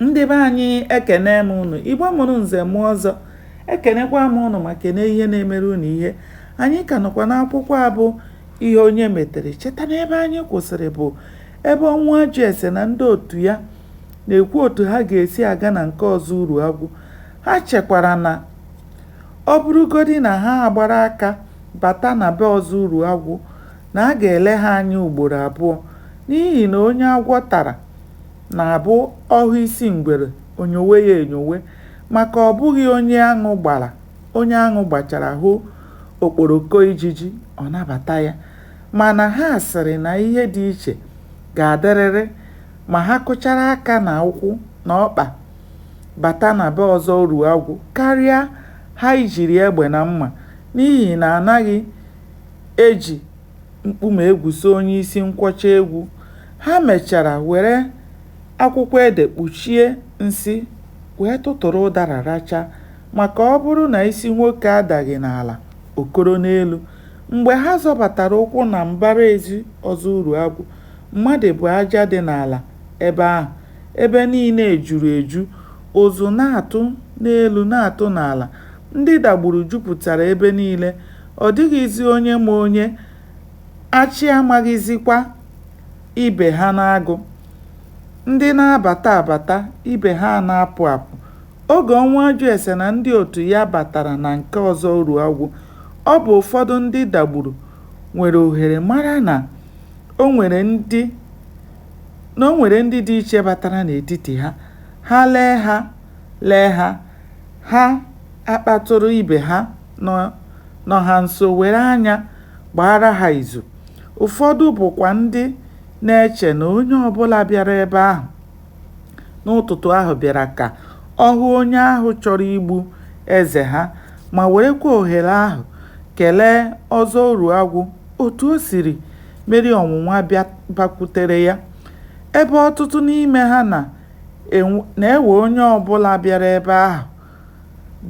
Ndị be anyị ekene m unu, Igbo mụrụ nze mụọ ọzọ, ekenekwa m unu ma kene ihe na-emere unu ihe. Anyị ka nọkwa n'akwụkwọ a bụ Ihe Onye Metere. Cheta na ebe anyị kwụsịrị bụ ebe Ọnwụajụese na ndị otu ya na-ekwu otu ha ga-esi aga na nke Ọzọ Uruagwụ. Ha chekwara na ọ bụrụgodi na ha agbara aka bata na be Ọzọ Uruagwụ, na a ga-ele ha anya ugboro abụọ n'ihi na onye agwọ tara na-abụ ọ hụ isi ngwere, o nyowe ya enyowe maka ọ bụghị onye aṅụ gbara, onye aṅụ gbachara hụ okporoko ijiji, ọ nabata ya. Mana ha sịrị na ihe dị iche ga-adịrịrị ma ha kụchara aka na ụkwụ na ọkpa bata na be Ọzọ Uruagwụ karịa ha ijiri egbe na mma n'ihi na a naghị eji mkpuma egwuso onye isi nkwọcha egwu, ha mechara were akwụkwọ ede kpuchie nsị wee tụtụrụ ụdara rachaa maka ọ bụrụ na isi nwoke adaghị n'ala, o koro n'elu. Mgbe ha zọbatara ụkwụ na mbara ezi Ọzọ Uruagwụ, mmadụ bụ aja dị n'ala ebe ahụ, ebe niile juru eju, ụzụ na-atụ n'elu na-atụ n'ala. Ndị Dagburu jupụtara ebe niile, ọ dịghịzi onye ma onye, achị amaghịzikwa ibe ha n'agụ. Ndị na-abata abata, ibe ha ana-apụ apụ. Oge Ọnwụajụese na ndị otu ya batara na nke Ọzọ Uruagwụ, ọ bụ ụfọdụ ndị Dagburu nwere ohere mara na o nwere ndị na o nwere ndị dị iche batara n'etiti ha. Ha lee ha, lee ha, Ha akpatụrụ ibe ha nọ ha nso were anya gbaara ha izu. Ụfọdụ bụkwa ndị na-eche na onye ọ bụla bịara ebe ahụ n'ụtụtụ ahụ bịara ka ọ hụ onye ahụ chọrọ igbu eze ha ma werekwa ohere ahụ kelee Ọzọ Uruagwụ otu o siri meri ọnwụnwa bakwutere ya. Ebe ọtụtụ n'ime ha na na-ewe onye ọ bụla bịara ebe ahụ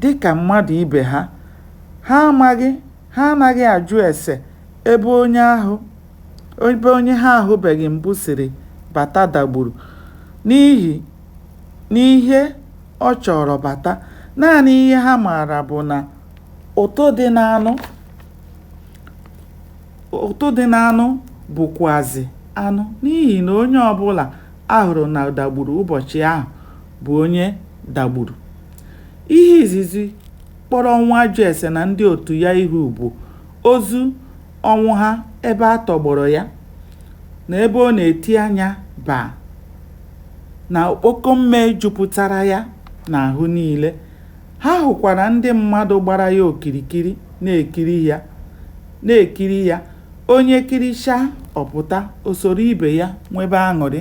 dị ka mmadụ ibe ha. Ha amaghị, ha anaghị ajụ ese ebe onye ahụ, ebe onye ha ahụbeghị mbụ siri bata Dagburu n'ihi n'ihe ọ chọọrọ bata. Naanị ihe ha maara bụ na ụtụ dị n'anụ. Ụtụ dị n'anụ bụkwazị anụ n'ihi na onye ọbụla a hụrụ na Dagburu ụbọchị ahụ bụ onye Dagburu. Ihe izizi kpọrọ Ọnwụajụese na ndị otu ya ihu bụ ozu Ọnwụha ebe a tọgbọrọ ya na ebe ọ na-eti anya baa na okpoko mme jupụtara ya n'ahụ niile. Ha hụkwara ndị mmadụ gbara ya okirikiri na-ekiri ya, onye kirichaa, ọ pụta, o soro ibe ya nwebe aṅụrị.